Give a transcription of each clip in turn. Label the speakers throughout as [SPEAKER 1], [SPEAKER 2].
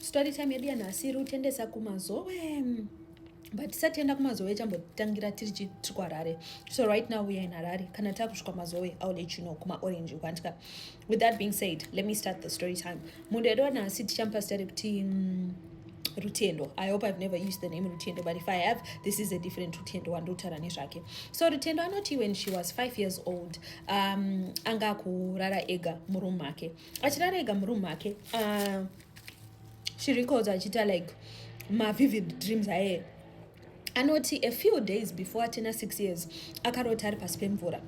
[SPEAKER 1] story time yedu yanhasi iri kutendesa kumazowe but tisati enda kumazowe chambotangira tiri tiri kuharare so right now we are in harare kana takusvika mazowe iwill let you know kumaorange ukandika with that being said let me start the story time munhu yedu wanhasi tichamupa zita rekuti mm, rutendo i hope i've never used the name rutendo but if i have this is a different rutendo wandotaura nezvake so rutendo anoti when she was five years old um, anga akurara ega muroom make achirara ega muroom make uh, ah, she records achiita like mavivid dreams aye anoti a few days before atina six years akarota ari pasi pemvura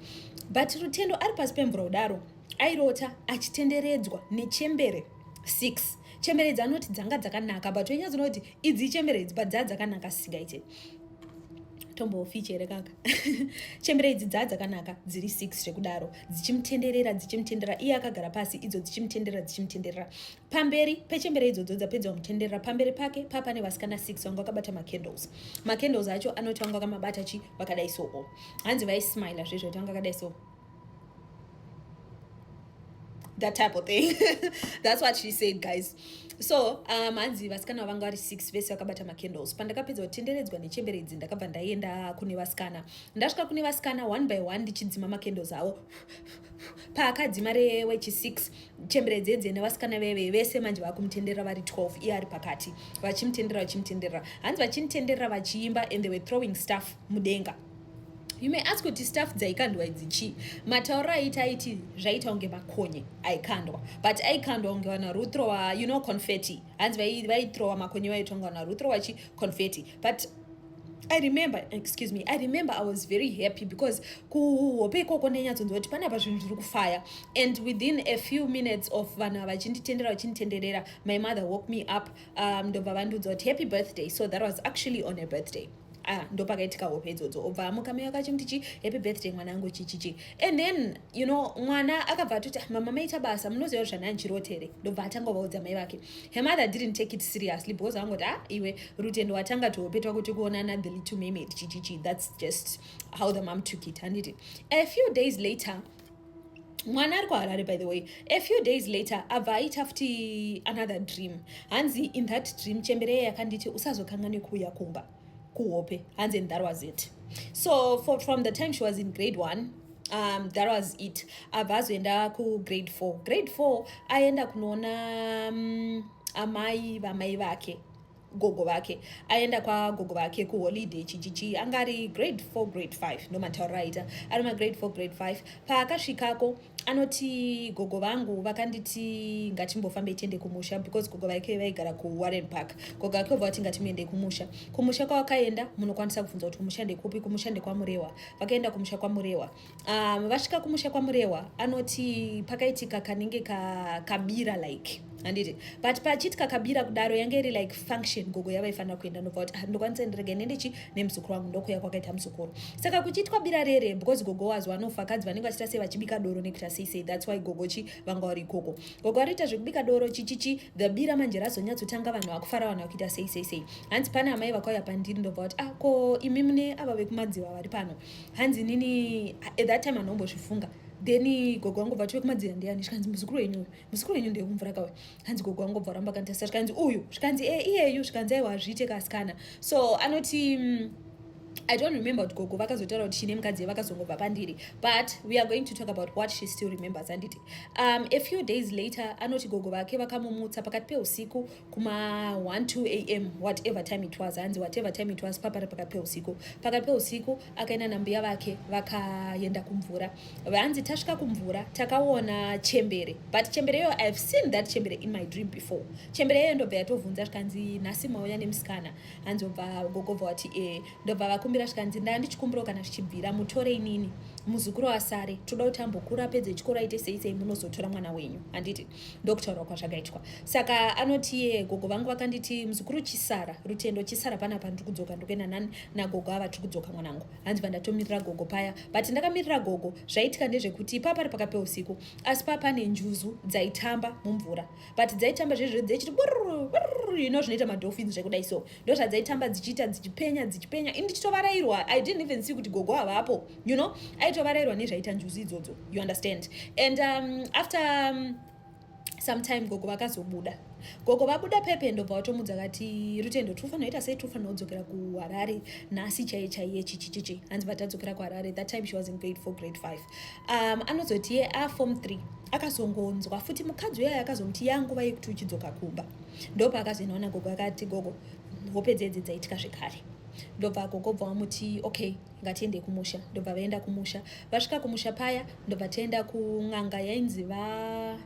[SPEAKER 1] but rutendo ari pasi pemvura kudaro airota achitenderedzwa nechembere six chembere idzi anoti dzanga dzakanaka but wenyaya dzinoti idzi ichembere idzi but dzaa dzakanaka sisingaite tombofichi here kaka chembere idzi dzaa dzakanaka dziri six zvekudaro dzichimutenderera dzichimutenderera iye akagara pasi idzo dzichimutenderera dzichimutenderera pamberi pechembere idzodzo dzapedza kumutenderera pamberi pake papa nevasikana six vanga vakabata macandles macandles acho anoti vanga vakamabata chi vakadai soo hanzi vaismila zvezvo kuti vanga vakadai soo that type of thing that's what she said guys so um, hanzi vasikana vanga vari six vese vakabata macandles pandakapedza kutenderedzwa nechembere idzi ndakabva ndaenda kune vasikana ndasvika kune vasikana one by one ndichidzima macandles avo paakadzima rewechi 6 chembere dzedze nevasikana veve vese manje vakumutendera vari 12 iye ari pakati vachimutendera vachimutendera hanzi vachimutendera vachiimba and they were throwing staff mudenga you may ask kuti staff dzaikandwa idzi chii matauro aiti aiti zvaita kunge makonye aikandwa but aikandwa kunge vana ruthrowa you know confetti hanzi vaitrowa makonye vaitongana ruthrowa chi confetti but I remember, excuse me, I remember I was very happy because kuhope ikoko nenyatsonzi kuti pane apa zvinhu zviri kufaya and within a few minutes of vanhu ava vachinditendera vachinditenderera my mother woke me up um, ndobva vandiudza kuti happy birthday so that was actually on a birthday ah, ndopakaitika hope idzodzo obva amuka meyo kachimti chi happy birthday mwana angu chichichi and then you know mwana akabva atoti ah, mama maita basa munoziva kuti zvandandchirotere ndobva atanga ovaudza mai vake Her mother didn't take it seriously because angoti ah iwe rutendo watanga tuhope twako tekuonana the little mermaid chichichi that's just how the mom took it handiti a few days later mwana ari kuharare by the way a few days later abva aita futi another dream hanzi in that dream chembereye yakanditi usazokanganwe kuuya kumba kuhope hanzi and that was it so for, from the time she was in grade one um, that was it abva azoenda kugrade four grade four aenda kunoona um, amai vamai vake gogo vake aenda kwagogo vake kuholiday chichichi anga ari grade four grade five ndomataurira aita ari magrade four grade five paakasvikako anoti gogo vangu vakanditi ngatimbofambei tiende kumusha because gogo vaike vaigara kuwarren park gogo vake vova vati ngatimuendei kumusha kumusha kwavakaenda munokwanisa kubvunza kuti kumusha ndekupi kumusha ndekwamurewa vakaenda kumusha kwamurewa um, vasvika kumusha kwamurewa anoti pakaitika kanenge ka, kabira like handiti but pachiti kakabira kudaro yange iri like function gogo yavaifanira kuenda ndobva kuti ah, ndokwanisa ndirege nendechi nemuzukuru wangu ndokuya kwakaita muzukuru saka kuchiitwa bira rere because gogo wazi vanofa kadzi vanenge vachita sei vachibika doro nekuita sei sei thats why gogo chi vanga vari ikoko gogo vanoita zvekubika doro chichichi the bira manje razonyatsotanga vanhu vakufara vanhu vakuita sei sei sei hanzi pane amai vakauya pandiri ndobva kuti ah ko imi mune ava vekumadziva vari pano hanzi nini at that time anombozvifunga then gogo vangu vati vekumadziva ndiyani zvikanzi muzukuru wenyu uyu muzukuru wenyu ndekumvura kawe hanzi gogo wangu bva ramba kanitasa zvikanzi uyu zvikanzi e iyeyu zvikanzi aiwa hazviite kasikana so anoti mm, i don't remember kuti gogo vakazotaura kuti chine mukadzi vakazongobva pandiri but we are going to talk about what she still remembers anditi um, a few days later anoti gogo vake vakamumutsa pakati peusiku kuma 12 am whatever time it was hanzi whatever time it was papari pakati peusiku pakati peusiku akaenda nambuya vake vakaenda kumvura vanzi tasvika kumvura takaona chembere but chembere iyoyo ihave seen that chembere in my dream before chembere iyoyo ndobva yatovhunza zvikanzi nhasi mauya nemusikana hanzi obva gogobva wati e ndobva vakumbira zvikanzi ndaa ndichikumbirawo kana zvichibvira mutore inini muzukuru wasare toda kuti ambokura apedze chikoro aite sei sei munozotora mwana wenyu handiti ndokutaurwa kwazvakaitwa saka anoti ye gogo vangu vakanditi muzukuru chisara rutendo chisara panapa ndiri kudzoka ndikuenda nani nagogo ava tiri kudzoka mwanangu hanzi vandatomirira gogo paya but ndakamirira gogo zvaitika ndezvekuti ipaa pari pakape usiku asi paa pane njuzu dzaitamba mumvura but dzaitamba zvezvo dzechiti you know zvinoita madolphins zvekudai so ndo zvadzaitamba dzichiita dzichipenya dzichipenya ini ndichitovarairwa i didn't even see kuti gogo havapo you know aitovarairwa nezvaita njuzu idzodzo you understand and um, after um, sometime gogo vakazobuda gogo vabuda pepe ndobva vatomudza kati rutendo tinofanira ita sei tinofanira kudzokera kuharare nhasi chaiye chaiye chichichichi hanzi vatadzokera kuharare that time she was in grade four grade five um, anozoti ye a form three akazongonzwa futi mukadzi uyayo akazomuti yanguva yekuti uchidzoka kumba ndopa akazoinaona gogo akati gogo hope dzedzi dzaitika zvekare ndobva gogo bva vamuti okay ngatiende kumusha ndobva vaenda kumusha vasvika kumusha paya ndobva taenda kun'anga yainzi va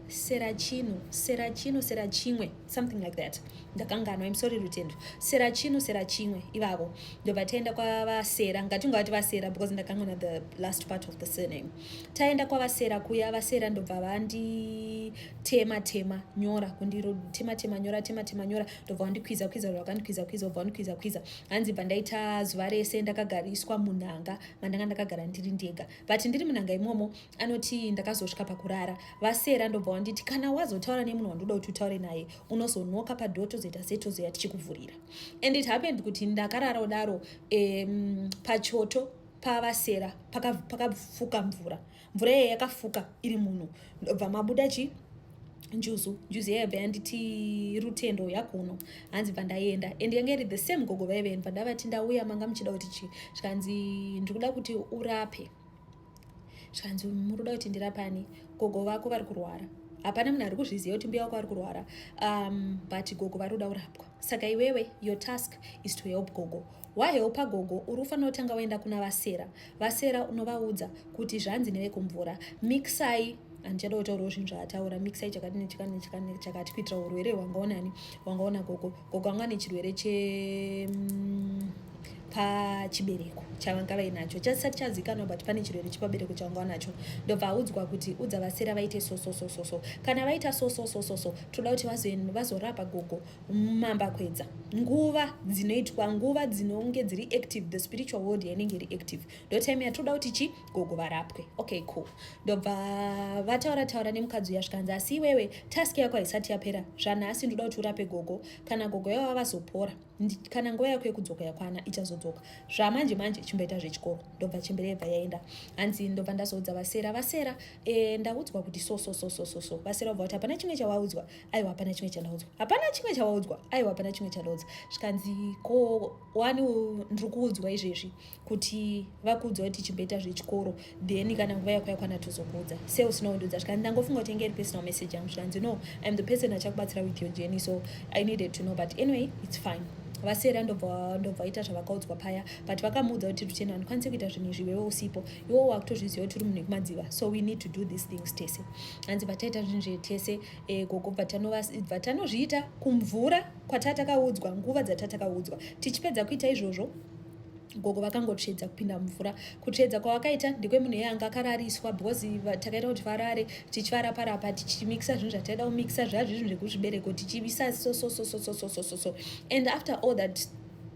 [SPEAKER 1] serachino serachino serachimwe something like that ndakanganwa im sorry rutendo serachino serachimwe ivavo ndobva taenda kwavasera ngatinga vati vasera because ndakanganwa the last part of the surname taenda kwavasera kuya vasera ndobva vanditema tema nyora kundiro tema tema nyora tema tema nyora ndobva wandikwiza kwiza vakandikwiza kwiza obva wandikwiza kwiza hanzi bva ndaita zuva rese ndakagariswa munhanga mandanga ndakagara ndiri ndega but ndiri munhanga imomo anoti ndakazosvika pakurara vasera ndobva wanditi kana wazotaura nemunhu wandoda kuti utaure naye unozonoka padho tozoita se tozoya tichikuvhurira and it happened kuti ndakarara kudaro um, pachoto pavasera pakafuka paka mvura mvura yeye yakafuka iri muno ndobva mabuda chi njuzu njuzu yaiva yanditi rutendo yakuno hanzi bva ndaenda and yange iri the same gogo vaive bva ndavati ndauya manga muchida kuti chi zvikanzi ndiri kuda kuti urape zvikanzi muri kuda kuti ndirapani gogo vako vari kurwara hapana munhu ari kuzviziva kuti mbuya wako ari kurwara um, but gogo vari kuda kurapwa saka iwewe your task is to help gogo Wahelpa gogo uri kufanira kutanga waenda kuna vasera vasera unovaudza kuti zvanzi nevekumvura mixai handichada kutaurawo zvinhu zvaataura mixai chakati nechakati nechakati nechakati kuitira urwere hwangaonani hwangaona gogo gogo anga ane chirwere che mm, pachibereko chavanga vainacho chasati chazikanwa but pane chirwere chepabereko chavanga vanacho ndobva audzwa kuti udza vasera vaite sososososo kana vaita sososososo toda kuti vazorapa gogo mambakwedza nguva dzinoitwa nguva dzinonge dziri active the spiritual world yainenge iri active ndotime yatoda kuti chi gogo varapwe okay cool ndobva vataura taura nemukadzi uya zvikanzi asi iwewe task yako haisati yapera zvanhasi ndoda kuti urape gogo kana gogo yavo vavazopora kana nguva yako yekudzoka yakwana ichazodzoka zvamanje manje chimboita zvechikoro ndobva chembere yebva yaenda hanzi ndobva ndazoudza vasera vasera e, ndaudzwa kuti so so so so so so vasera ubva kuti hapana chimwe chawaudzwa aiwa hapana chimwe chandaudzwa hapana chimwe chawaudzwa aiwa hapana chimwe chandaudzwa zvikanzi ko wani ndiri kuudzwa izvezvi kuti vakuudzwa kuti chimboita zvechikoro then kana nguva yako yakwana tozokuudza se usina kundiudza zvikanzi ndangofunga kuti enge iri personal message yangu zvikanzi no iam the person achakubatsira with your journey so i needed to know but anyway it's fine vasera ndobva ndobva ita zvavakaudzwa paya but vakamuudza kuti ruchena handikwanise kuita zvinhu izvi iwewe usipo iwo wakutozviziva kuti uri munhu wekumadziva so we need to do these things tese hanzi vataita zvinhu zvetese e, gogo bvatanozviita kumvura kwatatakaudzwa nguva dzatatakaudzwa tichipedza kuita izvozvo gogo vakangotsvedza kupinda mumvura kutsvedza kwavakaita ndekwemunhu iye anga akarariswa because takaita kuti varare tichivarapa rapa tichimixa zvinhu zvataida kumixa zvazvi zvinhu zvekuzvibereko tichivisa sososososososososo and after all that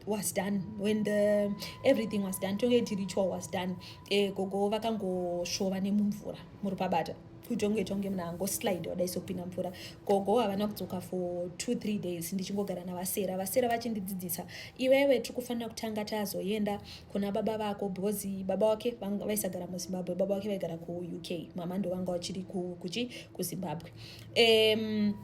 [SPEAKER 1] was done when the everything was done tonge ti ritual was done e, gogo vakangosvova nemumvura muri pabata kutonge tonge munhu angoslide wadai sopinda mvura gogo havana kudzoka for two three days ndichingogara navasera vasera vachindidzidzisa iwewe tiri kufanira kutanga tazoenda kuna baba vako because baba wake vaisagara muzimbabwe baba wake vaigara kuuk mama ndovanga vachiri kuchi kuzimbabwe um,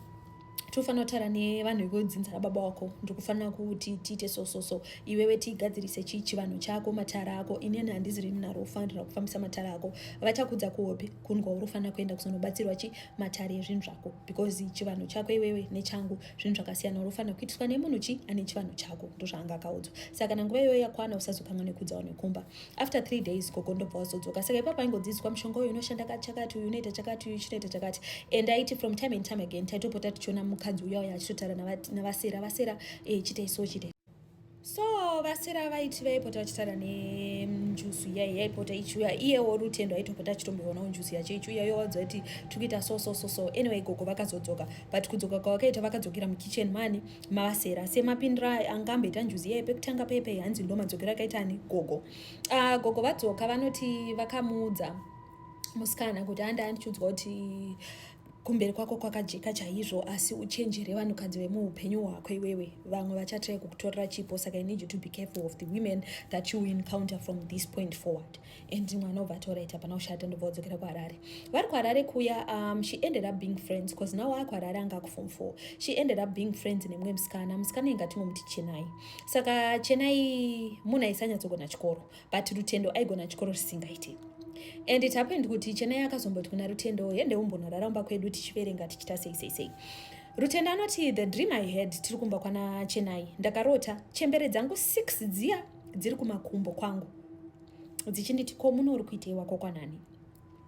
[SPEAKER 1] tofanira kutaura nevanhu vekodzinza rababa wako ndikufanira kuti tiite so so so iwewe tigadzirise chii chivanhu chako matara ako inini handizi rini naro ufanira kufambisa matara ako vachakudza kuhope kunwa urofanira kuenda kuzonobatsirwa chi matare ezvinhu zvako because chivanhu chako iwewe nechangu zvinhu zvakasiyana urofanira kuitiswa nemunhu chi ane chivanhu chako ndozvaanga akaudzwa saka kana nguva iyoyo yakwana usazokanwa nekudzawo nekumba after three days gogo ndobva wazodzoka saka ipapa aingodzidziswa mushonga uyu unoshanda chakati uyu unoita chakati uyu chinoita chakati and aiti from time and time again taitopota tichiona mukadzi uya uya achitotaura navasera vasera eh, chitai so chitai so vasera vaiti vaipota vachitaura nenjusu iya yaipota ichiuya iyewo rutendo aitopota achitomboona njusu yacho ichiuya yowadza kuti tikuita so so so so anyway gogo vakazodzoka but kudzoka kwavakaita vakadzokera mukitchen mani mavasera semapindira anga amboita njuzi iyaye pekutanga pepe hanzi ndo madzokero akaita ani gogo uh, gogo vadzoka vanoti vakamuudza musikana kuti anda andichiudzwa kuti kumberi kwako kwakajeka chaizvo asi uchenjere vanhukadzi vemuupenyu hwako iwewe vamwe vachatrai kukutorera chipo saka i need you to be careful of the women that you encounter from this point forward and mwana obva ati orit hapana kushata ndobva odzokera kuharare vari kuharare kuya um, she ended up being friends because now aa kuharare anga akufom four she ended up being friends nemumwe musikana musikana inga tinomuti chenai saka chenai munhu aisanyatsogona chikoro but rutendo aigona chikoro zvisingaiti and it happened kuti chenai akazomboti kuna rutendo hende umbonorara umba kwedu tichiverenga tichita sei sei sei rutendo anoti the dream i had tiri kumba kwana chenai ndakarota chembere dzangu six dziya dziri kumakumbo kwangu dzichinditi ko muno uri kuitei wako kwanani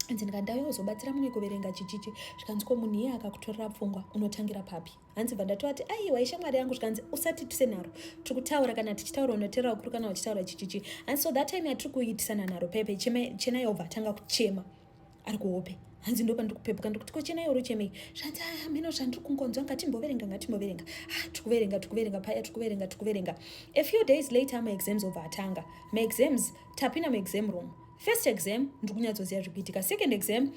[SPEAKER 1] hanzi ndikandauya kuzobatsira mumwe kuverenga chichichi zvikanzi ko munhu iye akakutorera pfungwa unotangira papi hanzi bva ndatovati aiwa ishamwari yangu zvikanzi usati tise nharo tiri kutaura kana tichitaura unoteera ukuru kana uchitaura chichichi hanzi so that time yatiri kuitisana nharo pepe chena yobva atanga kuchema ari kuhope hanzi ndo pandiri kupepuka ndikuti kochena yoro chemei zvanzi aa mheno zvandiri kungonzwa ngatimboverenga ngatimboverenga ah tikuverenga tikuverenga paya tikuverenga tikuverenga a few days later maexams obva atanga maexams tapinda muexam room first exam ndiri kunyatsoziva zviri kuitika second exam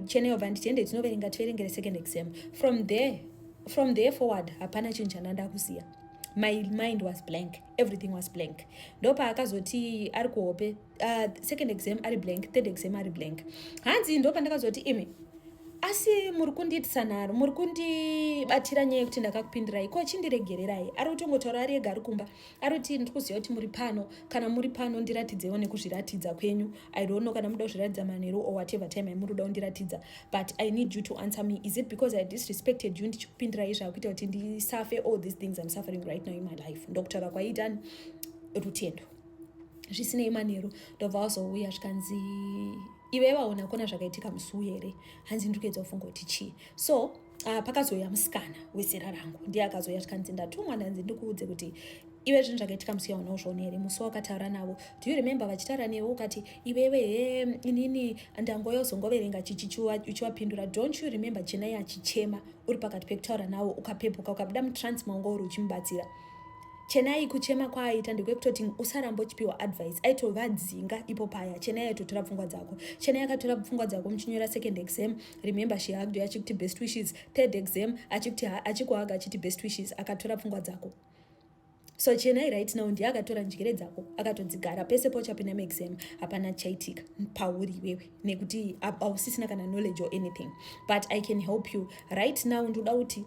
[SPEAKER 1] chena yobva nditi ende tinoverenga tiverengere second exam from there from there forward hapana chinhu chandanda kuziva my mind was blank everything was blank ndopaakazoti ari kuhope uh, second exam ari blank third exam ari blank hanzi ndo pandakazoti imi asi muri kundiitisa nharo muri kundibatira nyaya yekuti ndakakupindirai ko chindiregererai ari kutongotaura ari ega ari kumba ari kuti ndiri kuziva kuti muri pano kana muri pano ndiratidzewo nekuzviratidza kwenyu i don't know kana muda kuzviratidza manheru or whatever time aimuri kuda kundiratidza but i need you to answer me is it because i disrespected you ndichikupindirai zvakuita kuti ndisafe all these things im suffering right now in my life ndokutaura kwaitani rutendo zvisinei manheru ndobva wazouya zvikanzi ive vaona kona zvakaitika musi uyu here hanzi ndiri kuedza kufunga kuti chii so uh, pakazouya musikana wezera rangu ndiye akazouya zvikanzi ndatumwa ndanzi ndikuudze kuti iwe zvinhu zvakaitika musi yaona uzvione here musi wakataura navo do you remember vachitaura newe ukati iwewe he inini ndangoya uzongoverenga chichiuchiwapindura don't you remember chenai achichema uri pakati pekutaura nawo ukapepuka ukabuda mutransma ungo uri uchimubatsira Chenai kuchema kwaaita ndekwekutoti usaramba uchipiwa advice aitovadzinga ipo paya Chenai aitotora pfungwa dzako Chenai akatora pfungwa dzako muchinyora second exam remember she hugged you achikuti best wishes third exam achikuti achikuhaga achiti best wishes akatora pfungwa dzako so chenai right now ndiye akatora njere dzako akatodzigara pese pauchapinda muexam hapana chaitika pauri iwewe nekuti ausisina kana knowledge or anything but i can help you right now ndoda kuti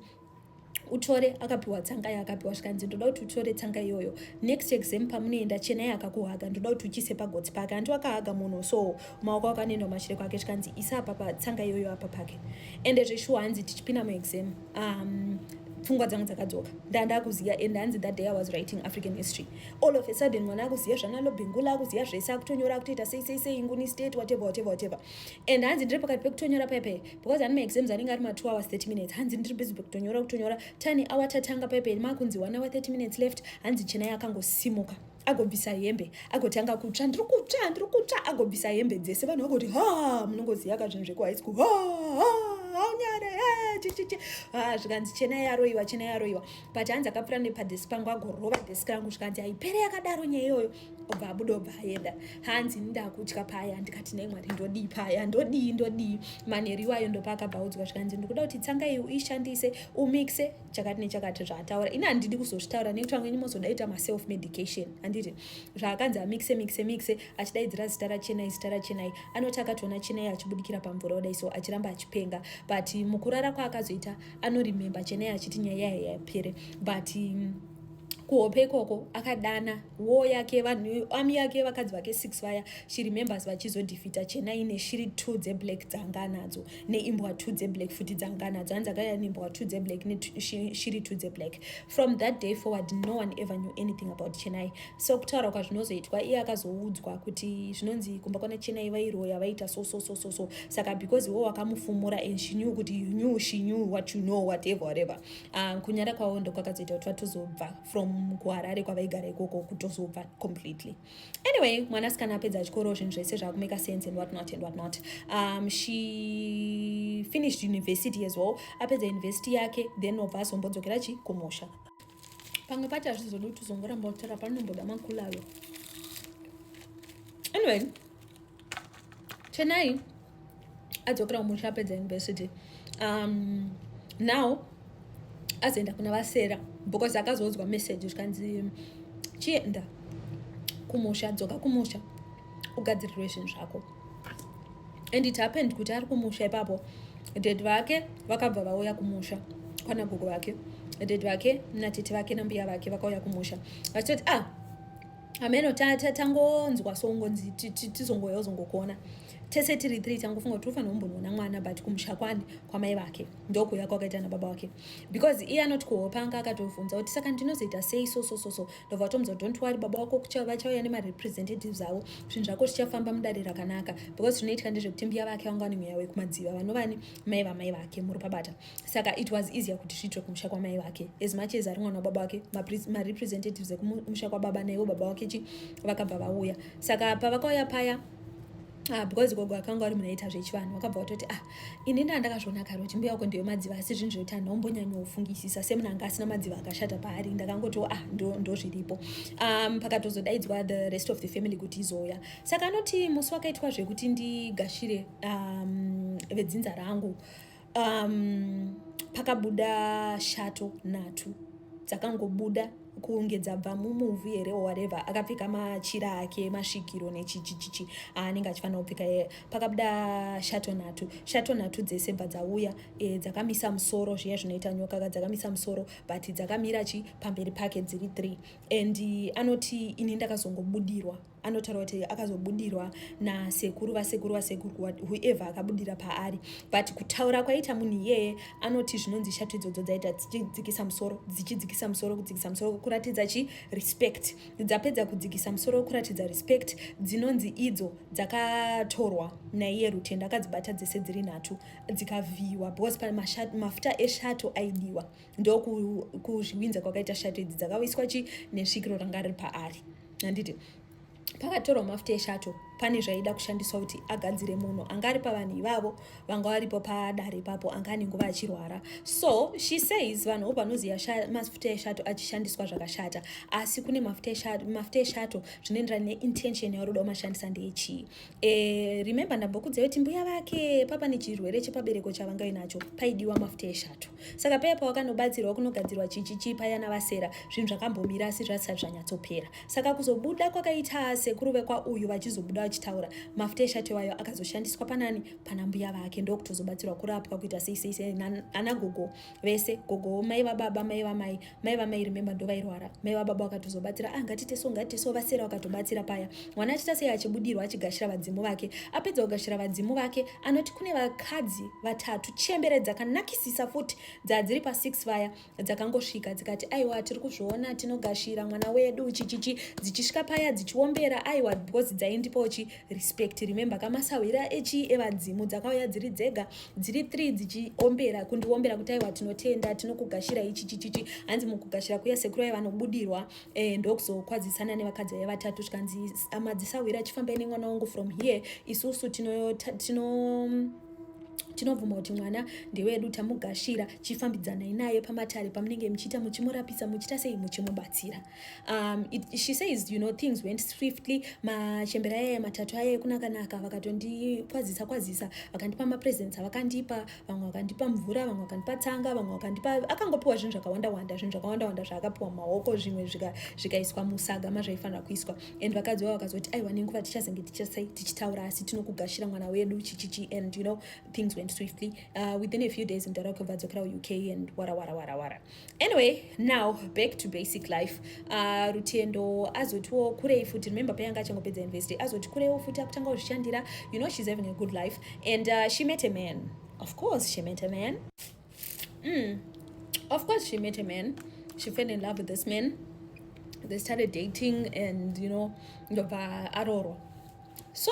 [SPEAKER 1] utore akapiwa tsanga yaakapiwa zvikanzi ndoda kuti utore tsanga iyoyo next exam pamunoenda chenai akakuhaga ndoda kuti uchise pagotsi pake hanti wakahaga munhu so maoko ako anoenda kumashure kwake zvikanzi isa apapa tsanga iyoyo apa pake ende zveshuwa hanzi tichipinda muexam um, pfungwa dzangu dzakadzoka ndandakuziva and hanzi that day i was writing african history all of a sudden mwana akuziva zvanalobhengula akuziva zvese akutonyora akutoita sei sei sei nguni state whatever whatever whatever and hanzi ndiri pakati pekutonyora paipai because ane maexams anenge ari ma2 hours 30 minutes hanzi ndiri busy kutonyora kutonyora tane awa tatanga paiperi makunzi one hour 30 minutes left hanzi chenai akangosimuka agobvisa hembe agotanga kutsva ndiri kutsva ndiri kutsva agobvisa hembe dzese vanhu vagoti ha munongoziva ka zvinhu zvekuhigh school ha ha haunyare eh, chichichi ah, zvikanzi chena yaroiwa chena yaroiwa but hanzi akapfura nepadesk pangu agorova desk rangu zvikanzi haipere yakadaro nyaya iyoyo obva abuda obva aenda hanzi ndakutya paya ndikati nei mwari ndodii paya ndodii ndodii manheru iwayo ndopaakabvaudzwa zvikanzi ndikuda kuti tsanga iyi uishandise umixe chakati nechakati zvaataura ini handidi kuzozvitaura nekuti vamweni mozodaita maself medication handiti zvaakanzi amixe mixe mixe achidaidzira zita rachenai zita rachenai anoti akatoona chenai achibudikira pamvura odai so achiramba achipenga but mukurara kwaakazoita anorememba chenai achiti nyaya yayo yapere but mm, kuhope ikoko akadana wo yake vanhu ami yake vakadzi vake six vaya she remembers vachizodhifita chena ine shiri two dzeblack dzanga nadzo neimbwa two dzeblack futi dzanga nadzo hanzi akaya neimbwa two dzeblack neshiri two dzeblack from that day forward no one ever knew anything about chenai so kutaura kwazvinozoitwa iye akazoudzwa kuti zvinonzi kumba kwana chenai vairoya vaita so so so so so saka because wo wakamufumura and she knew kuti you knew she knew what you know whatever whatever Uh, kunyara kwavo ndokwakazoita kuti vatozobva from kuharare kwavaigara ikoko kutozobva completely anyway mwana asikana apedza chikoro zvinhu zvese zvakumeka sense and what not and what not um, she finished university as well apedza university yake then obva azombodzokera chi kumosha pamwe pati hazvizodi kuti uzongoramba utara panonomboda makulalo anyway chenai adzokera kumusha apedza university um, now azoenda kuna vasera because akazodzwa message zvikanzi chienda kumusha dzoka kumusha ugadzirirwe zvinhu zvako and it happened kuti ari kumusha ipapo dad vake vakabva vauya kumusha kwana gogo vake dad vake natete vake nambuya vake vakauya kumusha vachitoti ah ameno tangonzwa songonzi tizongoya uzongokona tese tiri three tangofunga kuti ufanira kumbonoona mwana but kumusha kwani kwamai vake ndokuya kwakaita nababa wake because iye anoti kuhopa anga akatovhunza kuti saka ndinozoita sei so so so so ndobva vatomudza kuti don't worry baba wako vachauya nemarepresentatives avo zvinhu zvako zvichafamba mudare rakanaka because zvinoitika ndezvekuti mbiya vake vanga vane mweya wekumadziva vanovani mai vamai vake muri pabata saka it was easier kuti zviitwe kumusha kwamai vake as much as ari mwana wababa wake marepresentatives ekumusha kwababa naiwo baba wake chi vakabva vauya saka pavakauya paya Ah, because gogo akanga ari munaita zvechivanhu wakabva watoti ah ini nda ndakazviona kare kuti mbuya wako ndiyo madziva asi zvinhu zvekuti anhu aumbonyanyofungisisa semuna anga asina madziva akashata paari ndakangotiwo ah ndozviripo ndo um, pakatozodaidzwa the rest of the family kuti izouya saka anoti musi wakaitwa zvekuti ndigashire um, vedzinza rangu um, pakabuda shato nhatu dzakangobuda kunge dzabva mumuvhu here whatever akapfeka machira ake masvikiro nechichichichi aanenge achifanira kupfeka yeye pakabuda shato nhatu shato nhatu dzese bva dzauya e, dzakamisa musoro zviya zvinoita nyoka ka dzakamisa musoro but dzakamira chi pamberi pake dziri three and anoti ini ndakazongobudirwa anotaura kuti akazobudirwa nasekuru vasekuru vasekuru whoever akabudira paari but kutaura kwaita munhu iyeye anoti zvinonzi shato idzodzo dzaita dzichidzikisa musoro dzichidzikisa musoro kudzikisa musoro kuratidza chi respect dzapedza kudzikisa musoro kuratidza respect dzinonzi idzo dzakatorwa naiye rutendo akadzibata dzese dziri nhatu dzikavhiyiwa because pane mafuta eshato aidiwa ndokuzviwinza kwakaita shato idzi dzakawiswa chi nesvikiro ranga riri paari handiti pakatorwa mafuta eshato pane zvaida kushandiswa kuti agadzire munhu anga ari pavanhu ivavo vanga varipo padare ipapo anga ane nguva achirwara so she says vanhu vo vanoziva mafuta eshato achishandiswa zvakashata asi kune mafuta eshato zvinoenderana neintention yauri kuda kumashandisa ndeyechii e, eh, remember ndambokudzai kuti mbuya vake papa nechirwere chepabereko chavanga inacho paidiwa mafuta eshato Saka peya pawakanobatsirwa kunogadzirwa chichichi paya navasera zvinhu zvakambomira asi zvasati zvanyatsopera. Saka kuzobuda kwakaita sekuru vekwauyu vachizobuda vachitaura mafuta eshati wayo akazoshandiswa panani pana mbuya vake ndokutozobatsirwa kurapwa kuita sei sei sei ana gogo vese gogo mai vababa mai vamai mai vamai remember ndovairwara mai vababa vakatozobatsira ah ngatiite so ngatiite so vasera vakatobatsira paya mwana achiita sei achibudirwa achigashira vadzimu vake apedza kugashira vadzimu vake anoti kune vakadzi vatatu chembere dzakanakisisa futi dzadziri pa6 vaya dzakangosvika dzikati aiwa tiri kuzviona tinogashira mwana wedu chichichi dzichisvika paya dzichiombera aiwa because dzaindipochi respect remember ka masahwira echi evadzimu dzakauya dziri dzega dziri three dzichiombera kundiombera kuti aiwa tinotenda tinokugashira ichi chichichi hanzi mukugashira kuya sekuru vaiva nobudirwa eh, ndokuzokwadzisana nevakadzi vaiva vatatu zvikanzi amadzisahwira achifambai nemwana wangu from here isusu tino, tino, tino tinobvuma kuti mwana ndewedu tamugashira chifambidzanai naye pamatare pamunenge muchiita muchimurapisa muchiita sei muchimubatsira um, it, she says you know things went swiftly machembera aye matatu aye kunakanaka vakatondikwazisa kwazisa vakandipa mapresents avakandipa vamwe vakandipa mvura vamwe vakandipa tsanga vamwe vakandipa akangopiwa zvinhu zvakawanda wanda zvinhu zvakawanda wanda zvaakapiwa mumaoko zvimwe zvikaiswa musaga mazvaifanira kuiswa and vakadzi vavo vakazoti aiwa nenguva tichazenge tichitaura asi tinokugashira mwana wedu chichichi and you know things went swiftly uh, within a few days mdara kubva dzokera uuk and wara wara wara wara anyway now back to basic life uh, rutendo azotiwo kurei futi remember payanga achangopedza university azoti kureiwo futi akutanga kuzvishandira you know she's having a good life and uh, she met a man of course she met a man mm. of course she met a man she fell in love with this man they started dating and you know ndobva arorwa so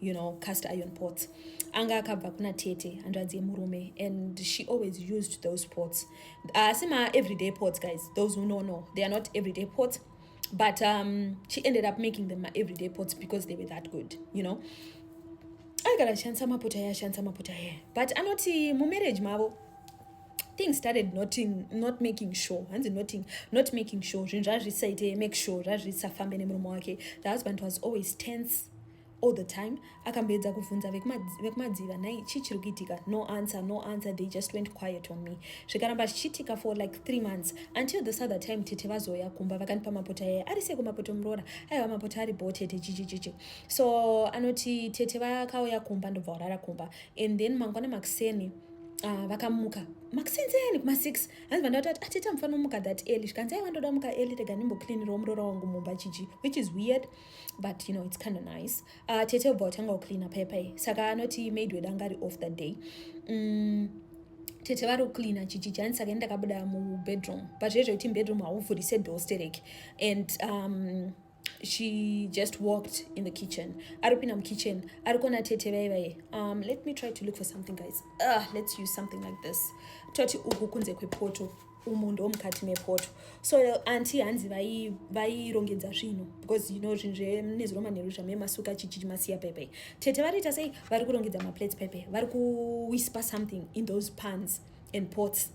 [SPEAKER 1] you know cast iron pots anga akabva kuna tete hanzvadzi yemurume and she always used those pots asi uh, ma everyday pots guys those who know know they are not everyday pots but um, she ended up making them my everyday pots because they were that good you know aigara achishandisa maputa aye ashandisa maputa aye but anoti mumarriage mavo things started noting, not making sure hanzi noting, not making sure zvinhu zvazvisaite make sure zvazvisafambe nemurume wake the husband was always tense all the time akamboedza kuvhunza vekumadziva nhai chii chiri kuitika no answer no answer they just went quiet on me zvikaramba zvichiitika for like three months until this other time tete vazoya kumba vakandipa mapota yaye ari seko mapota muroora aiwa mapota ari bho tete chichichichi so anoti tete vakauya kumba ndobva warara kumba and then mangwana makuseni Ah, vakamuka makusenzeani kuma six hanzi vandati ati atete amufana umuka that early zvikanzi aiwa ndoda muka early rega ndimbocleanirawo muroora wangu mumba chichi which is weird but you know it's kind of nice uh, tete ubva watanga kucleana paipa iyi saka anoti maid wedu anga ari off that day mm, tete vari kucleana chichijani saka ini ndakabuda mubedroom but zvezve kuti mubedroom hauvhurise door stereki and um, she just walked in the kitchen ari kupinda mukitchen ari kuona tete vaye vaye um, let me try to look for something guys uh, let's use something like this toti uku kunze kwepoto umu ndo mukati mepoto so anti hanzi vairongedza zvinhu because you know zvinhu zvenezviromanheru zvamemasuka chichichi masiya pepe tete variita sei vari kurongedza maplates pepe vari kuwispa something in those pans and pots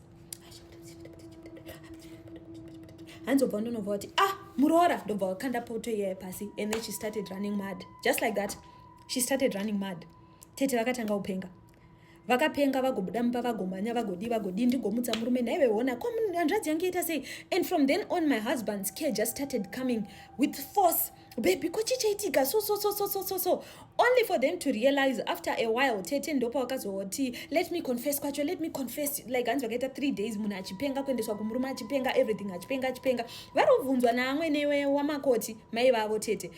[SPEAKER 1] hanzi obva ndonobva kuti ah muroora ndobva wakanda poto iyaye pasi and then she started running mad just like that she started running mad tete vakatanga upenga vakapenga vagobuda mumba vagomhanya vagodii vagodii ndigomutsa murume nhaive hona ko hanzvadzi yange ita sei and from then on my husband's care just started coming with force baby ko chii chaitika so so so so so so so only for them to realize after a while tete ndopa wakazoti let me confess kwacho let me confess like hanzi vakaita three days munhu achipenga kuendeswa kumurume achipenga everything achipenga achipenga vari kubvunzwa naamwene wamakoti mai vavo tete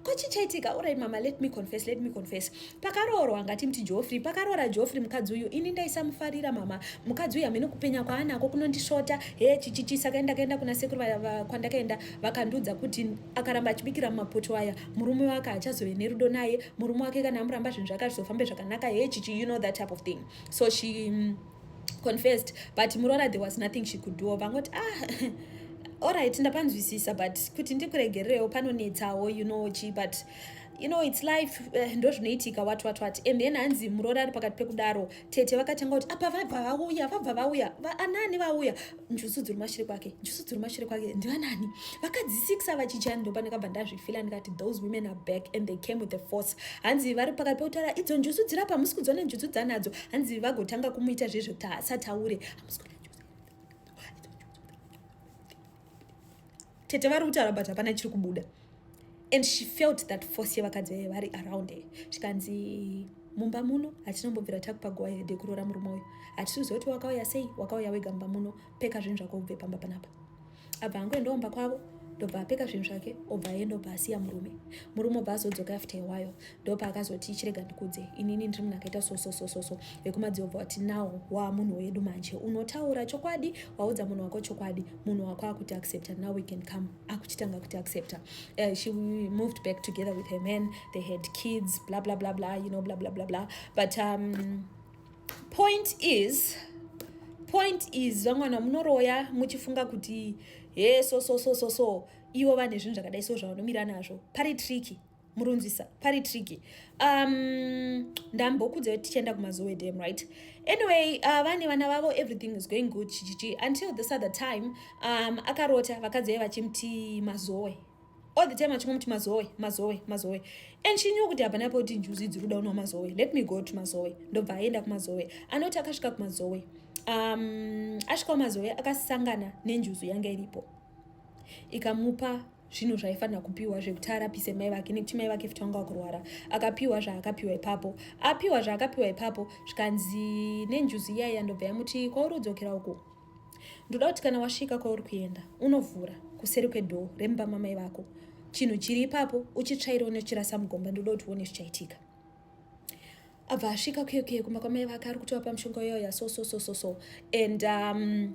[SPEAKER 1] ko chii chaitika orai mama let me confess let me confess pakaroorwa ngati mti jofrey pakaroora jofrey mukadzi uyu ini ndaisamufarira mama mukadzi uyu hamene kupenya kwaanako kunondisvota he chichichi saka ndakaenda kuna sekuru kwandakaenda vakandiudza kuti akaramba achibikira mumapoto aya murume wake achazove nerudo naye murume wake kana amuramba zvinhu zvake azvizofambe zvakanaka he chichi you know that type of thing so she mm, confessed but muroora there was nothing she could do vangoti ah alright ndapanzwisisa but kuti ndikuregererewo panonetsawo you know chi but you know its life eh, ndo zvinoitika wat wat wat and then hanzi muroora ari pakati pekudaro tete vakatanga kuti apa vabva vauya vabva vauya anani vauya njusu dziri mashure kwake njusu dziri mashure kwake ndivanani vakadzi six ava chichani ndopa ndakabva ndazvifila ndikati those women are back and they came with the force hanzi vari pakati pekutaura idzo njusu dziri apa hamusi kudziona njusu dzanadzo hanzi vagotanga kumuita zvezvesataure tete vari kutaura but hapana chiri kubuda and she felt that force yevakadzi vaive vari around her zvikanzi mumba muno hatinombobvira takupa guva hede kuroora murume uyu hatisiuziva kuti wakauya sei wakauya wega mumba muno peka zvinhu zvako ubve pamba panapa abva angoendaomba kwavo ndobva apeka zvinhu zvake obva aenda obva asiya murume murume obva azodzoka after iwayo ndopa akazoti chirega ndikudze inini ndiri munhu akaita sososososo vekumadzio obva wati nawo waa munhu wedu manje unotaura chokwadi waudza munhu wako chokwadi munhu wako akuti accepta now we can come akuchitanga kuti accepta uh, she moved back together with her man they had kids bla bla bla bla you know bla bla bla bla but um, point is point is vamwana munoroya muchifunga kuti he so so so so so ivo vane zvinhu zvakadai so zvavanomira nazvo pari tricky murunzisa pari tricky um ndambokudza kuti tichaenda kumazowe dam right anyway uh, vane vana vavo everything is going good chichichi until this other time um akarota vakadzi vaive vachimuti mazowe all the time achingomuti mazowe mazowe mazowe and she knew kuti hapana poti njuzi dziri kuda unwa mazowe let me go to mazowe ndobva aenda kumazowe anoti akasvika kumazowe um asvika kumazowe akasangana nenjuzu yanga iripo ikamupa zvinhu zvaifanira kupiwa zvekuti arapise mai vake nekuti mai vake futi vanga vakurwara akapiwa zvaakapiwa ipapo apiwa zvaakapiwa ipapo zvikanzi nenjuzi iyayi yandobva yamuti kwauri udzokera uko ndoda kuti kana wasvika kwauri kuenda unovhura kuseri kwedhoo remumba mamai vako chinhu chiri ipapo uchitsvaira une uchirasa mugomba ndoda kuti uone zvichaitika abva asvika okay okay kumba kwamai vake ari kutovapa mushonga uyo ya so so so so so and um,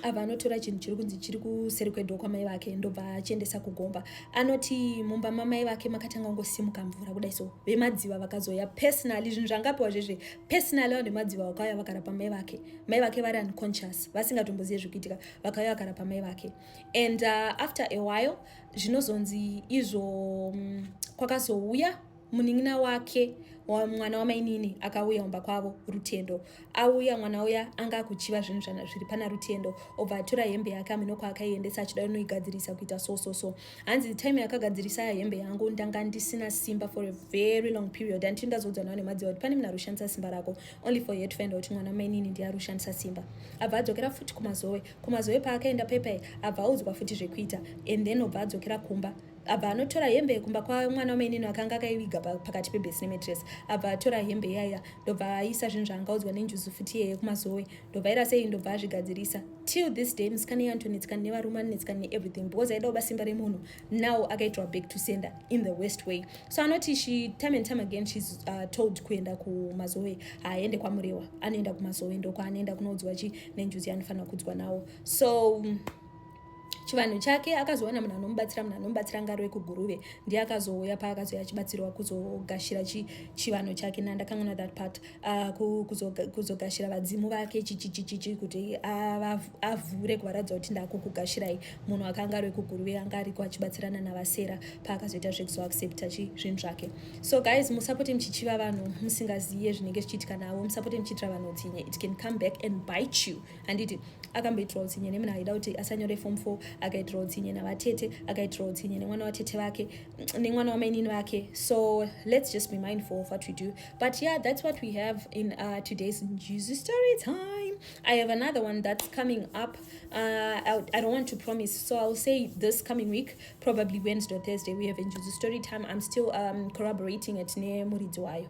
[SPEAKER 1] abva anotora chinhu chiri kunzi chiri kuseri kwedo kwamai vake ndobva achiendesa kugomba anoti mumba mamai vake makatanga kungosimuka mvura kudai so vemadziva vakazoya personally zvinhu zvangapiwa zvezve personally vanhu vemadziva vakauya vakarapa mai vake mai vake vari unconscious vasingatombozive zvekuitika vakauya vakarapa mai vake and uh, after a while zvinozonzi izvo um, kwakazouya munin'ina wake mwana wamainini akauya kumba kwavo rutendo auya mwana uya anga akuchiva zvinhu zviri pana rutendo obva atora hembe yake ameno kwaakaiendesa achida unoigadzirisa kuita so so so hanzi time yakagadzirisa hembe yangu ndanga ndisina simba for a very long period anditi ndazodzwa nawo nemadziva kuti pane munhu ari kushandisa simba rako only for her to find out mwana wamainini ndiye ari kushandisa simba abva adzokera futi kumazowe kumazowe paakaenda pepai abva audzwa futi zvekuita and then obva adzokera kumba abva anotora hembe yekumba kwamwana wamainini akanga akaiviga pakati pebhesi nemetress abva atora hembe iyaya ndobva aisa zvinhu zvaangaudzwa nenjuzu futi iyeye kumazowe ndobva aira sei ndobva azvigadzirisa till this day musikana iye antonetsikana nevarume anonetsikana neeverything because aida kuba simba remunhu now akaitwa back to sender in the west way so anoti she time and time again shes uh, told kuenda kumazowe haaende kwamurewa anoenda kumazowe ndokwaanoenda kunoudzwa chi nenjuzi yaanofanira kuudzwa nawo so um, chivanhu chake akazowana munhu anomubatsira munhu anomubatsira ngari wekuguruve ndiye akazouya paakazouya achibatsirwa kuzogashira chivanhu chake na ndakanganwa that part ah, kuzogashira vadzimu vake chichichichichi kuti avhure kuvaratidza kuti ndakukugashirai munhu akanga ari wekuguruve anga ariko achibatsirana navasera paakazoita zvekuzoaccepta zvinhu zvake so guys musapote muchichiva vanhu musingaziye zvinenge zvichiitika navo musapote muchiitira vanhu utsinye it can come back and bite you handiti akamboitirwa utsinye nemna aida kuti asanyore form four akaitirwa utsinye navatete akaitirwa utsinye nemwana watete vake nemwana wamainini vake so let's just be mindful of what we do but yeah that's what we have in uh, today's juicy story time i have another one that's coming up uh, I, I don't want to promise so i'll say this coming week probably wednesday or thursday we have in juicy story time i'm still um, corroborating it nemuridzi wayo